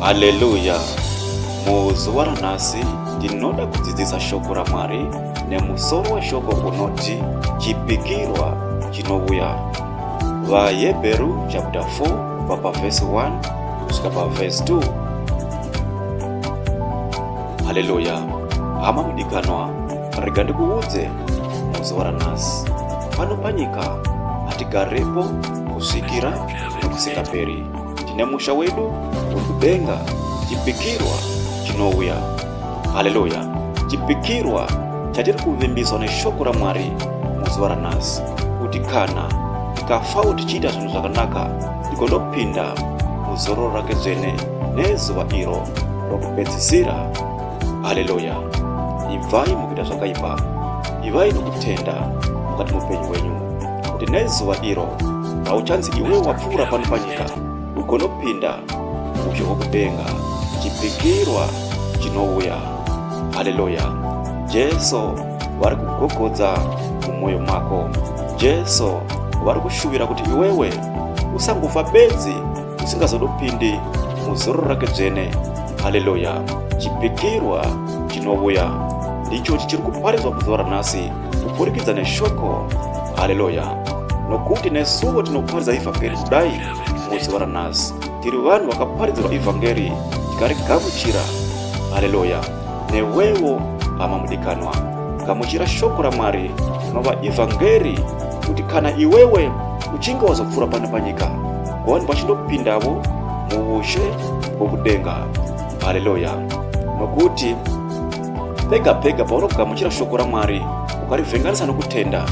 Haleluya! Muzuva ranhasi ndinoda kudzidzisa shoko raMwari nemusoro weshoko unoti chipikirwa chinouya. VaHebheru chapter 4 kubva pavhesi 1 kusvika pavhesi 2 haleluya hama mudikanwa rega ndikuudze muzuva ranhasi pano panyika hatigarepo kusvikira nokusingaperi tine musha wedu uri kudenga chipikirwa chinouya haleluya chipikirwa chatiri kuvimbiswa neshoko ramwari muzuva ranhasi kuti kana tikafao tichiita zvinhu zvakanaka ndigonopinda muzororo rake dzvene nezuva iro rokupedzisira haleluya ibvai mukuita zvakaipa ivai nokutenda mukati muupenyu hwenyu kuti nezuva iro rauchanzi iwe wapfuura pano panyika ugonopinda muzvo wokudenga chipikirwa chinouya haleluya jesu vari kugogodza mumwoyo mako jesu vari kushuvira kuti iwewe usangofa bedzi usingazodopindi muzoro rake dzvene haleluya chipikirwa chinouya ndicho chichiri kuparidzwa muzuva ranhasi kuburikidza neshoko haleluya nokuti nesuwo tinoparidza ivhangeri kudai muzuva ranhasi tiri vanhu vakaparidzirwa ivhangeri tikarigamuchira haleluya newewo hama mudikanwa gamuchira shoko ramwari rinova evhangeri kuti kana iwewe uchinge wazopfuura pano panyika gowani vachindopindavo muushe hwokudenga haleluya nokuti pega pega paunogamuchira shoko ramwari ukarivhenganisa nokutenda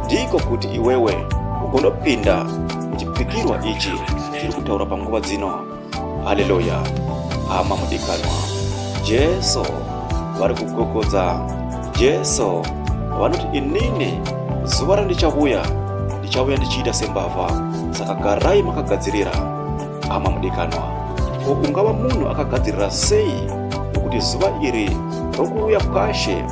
ndiko kuti iwewe ugondopinda muchipikirwa ichi chiri kutaura panguva dzino haleluya hama mudikanwa jesu vari kugogodza jesu vanoti inini zuva randichavuya ndichavuya ndichiita sembavha saka garai makagadzirira hama mudikanwa ko ungava munhu akagadzirira sei nokuti zuva iri rokuuya kwashe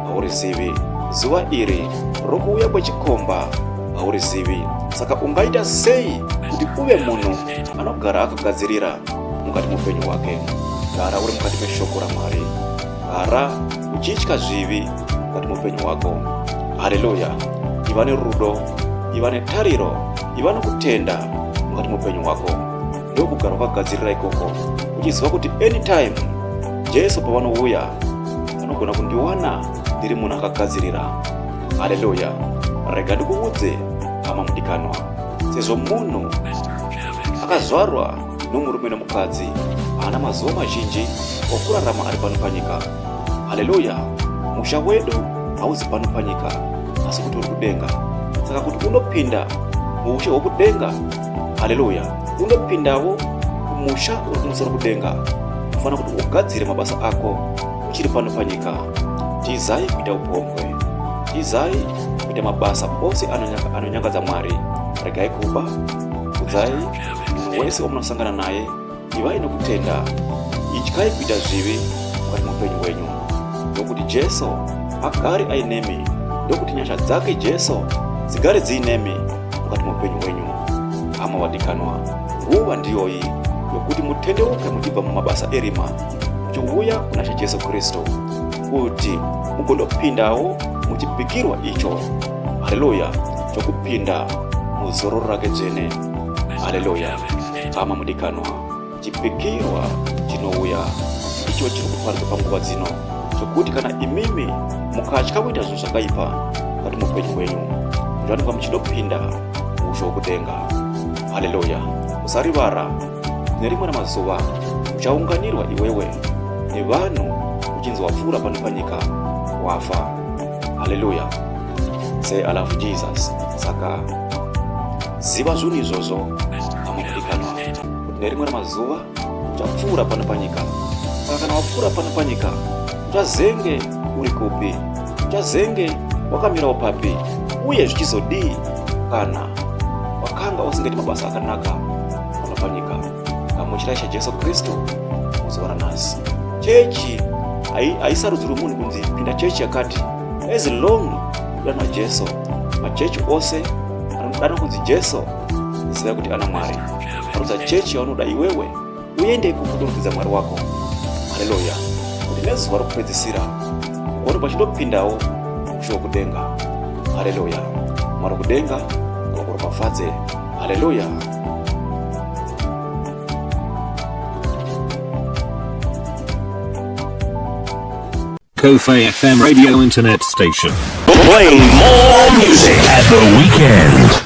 haurizivi zuva iri rokuuya kwechikomba haurizivi saka ungaita sei kuti uve munhu anogara akagadzirira mukati muupenyu hwake gara uri mukati meshoko ramwari gara uchitya zvivi mukati muupenyu hwako haleluya iva nerudo iva netariro iva nokutenda mukati muupenyu hwako ndokugara wakagadzirira ikoko uchiziva kuti anytime jesu pavanouya anogona kundiwana ndiri munhu akagadzirira haleluya rega ndikuudze hama mudikanwa sezvo munhu akazvarwa nomurume nomukadzi haana mazuva mazhinji okurarama ari pano panyika haleluya musha wedu hauzi pano panyika asi kuti uri kudenga saka kuti unopinda muushe hwokudenga haleluya unopindawo kumusha uri kumusoro kudenga unofanira kuti ugadzire mabasa ako uchiri pano panyika tizai kuita upombwe tizai kuita mabasa ose anonyangadza mwari regai kuba kudzai munhu wese wamunosangana naye ivai nokutenda ityai kuita zvivi mukati muupenyu hwenyu nokuti jesu agari ainemi ndokuti nyasha dzake jesu dzigare dziinemi mukati muupenyu hwenyu hama wadikanwa nguva ndiyoyi yokuti mutendeuke muchibva mumabasa erima muchiuya kuna she jesu kristu kuti mugone kupindawo muchipikirwa icho haleluya chokupinda muzororo rake dzvene haleluya hama mudikanwa chipikirwa chinouya icho chiri kuparika panguva dzino chokuti kana imimi mukatya kuita zvinhu zvakaipa kati muupenyu hwenyu zvanika muchinopinda usho wokudenga haleluya usarivara Nerimwe ramazuva uchaunganirwa iwewe nevanhu uchinzi wapfuura pano panyika wafa. Haleluya! Say I love Jesus. Saka ziva zvinhu izvozvo amadikanwa kuti nerimwe ramazuva uchapfuura pano panyika. Saka kana wapfuura pano panyika Chazenge uri kupi? Chazenge wakamirawo papi? Uye zvichizodii kana wakanga usingaiti mabasa akanaka pano panyika? Gamuchirai chaJesu Kristu muzuva ranhasi. Chechi haisarudzirwi munhu kunzi pinda chechi yakati as long udanwa Jesu. Machechi ose anodana kunzi Jesu ziva kuti ana Mwari. Arudza chechi yaunoda iwewe. uende ikoko ndobvunza mwari wako haleluya kuti nezuva rokupedzisira ugone pachinopindawo musho wokudenga haleluya mwari kudenga wakuropafadze haleluya Kofi FM radio internet station. Play more music at the weekend.